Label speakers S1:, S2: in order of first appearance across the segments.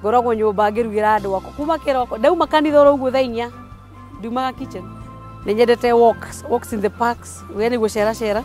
S1: ngoragwo nyũmba ngĩrugĩra andũ akwa kuma kĩroko ndauma kanitha oro ũguo thaa inya ndiumaga kitchen nĩ nyendete walks walks in the parks we nĩ gũceracera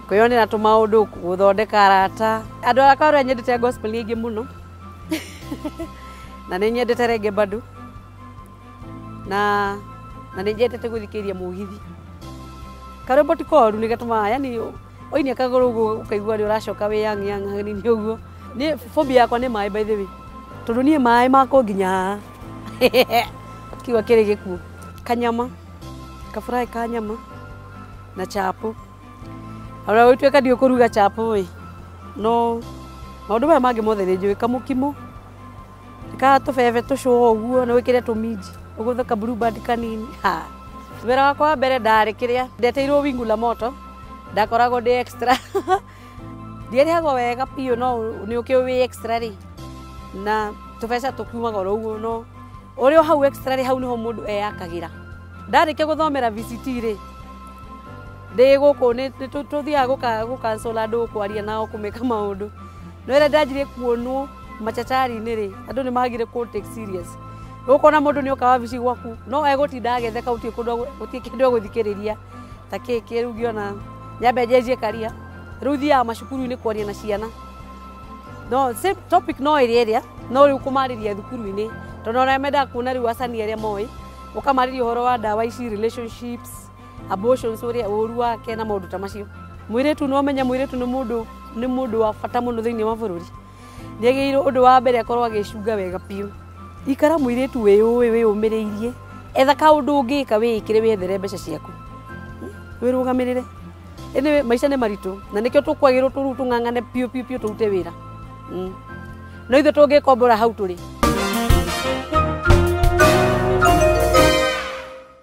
S1: kwĩyonera tũmaũndũ gũthondeka arata andũ akwa arĩa nyendete gospel nĩ aingĩ mũno na nĩ nyendete renge bado na na nĩ nyendete gũthikĩrĩria mũgithi karwĩmbo ti koru nĩ gatũmaga yani Oinia kagũrũ ũguo ũkaigua rĩ ũracoka wĩ yang yang hanini ũguo. Nĩ phobia yakwa nĩ maĩ by the way. Tondũ niĩ maĩ makũ nginya haha. Kiuga kĩrĩ gĩkuũ. Kanyama, kafuraĩ ka nyama na chapo. Ona gũtuĩka ndiũĩ kũruga chapo ĩ, no maũndũ maya mangĩ mothe nĩ njũĩ, kamũkimo. kaa tũbebe tũcũa ũguo nĩ wĩkĩre tũminji ũgũthe ka blue band kanini ha wĩra wakwa wa mbere ndarĩ kĩrĩa ndeteirwo wingu la moto ndakoragwo ndĩ extra ndierĩhagwo wega biũ no nĩ ũkĩ wĩ extra rĩ na tũbeca tũkumaga oro ũguo no ũrĩ o hau extra rĩ hau nĩho mũndũ eyakagĩra ndarĩkia gũthomera VCT rĩ ndĩ gũkũ nĩ nĩ tũ- tũthiaga gũka- gũkansũla andũ kwaria nao kũmeka maũndũ no ĩrĩa ndanjirie kuonwo macacari-inĩ-rĩ andũ nĩ magire kũ take serious ũkona mũndũ nĩ oka wabici gwaku no egũtinda agetheka gũtirĩ kũndũ gũtirĩ kĩndũ egũthikĩrĩria ta kĩĩ kĩ rĩu ngĩona nyambe njenjie karia rĩu thiaga macukuru-inĩ kwaria na ciana no same topic no ĩrĩa ĩrĩa no rĩu kũmarĩria thukuru-inĩ tondũ ona mendaga kuona rĩu acani arĩa moĩ ũkamarĩria ũhoro wa ndawa ici relationships abortions ũrĩa ũru wake na maũndũ ta macio mwĩrĩtu no menye mwĩrĩtu nĩ mũndũ nĩ mũndũ wa bata mũno thĩinĩ wa bũrũri nĩagĩrĩirwo ũndũ wa mbere akorwo agĩcunga wega biũ ikara mwĩrĩtu wĩ ũĩ wĩ ũmĩrĩirie etha kaũndũ ũngĩka wĩĩkĩre wĩethere mbeca ciaku wĩrũgamĩrĩre ĩnĩ maica nĩ maritũ na nĩkĩo tũkwagĩrwo tũruu tũng'ang'ane biũ biũ biũ tũrute wĩra Mm. no ithuĩ tũngĩkombora hau tũrĩ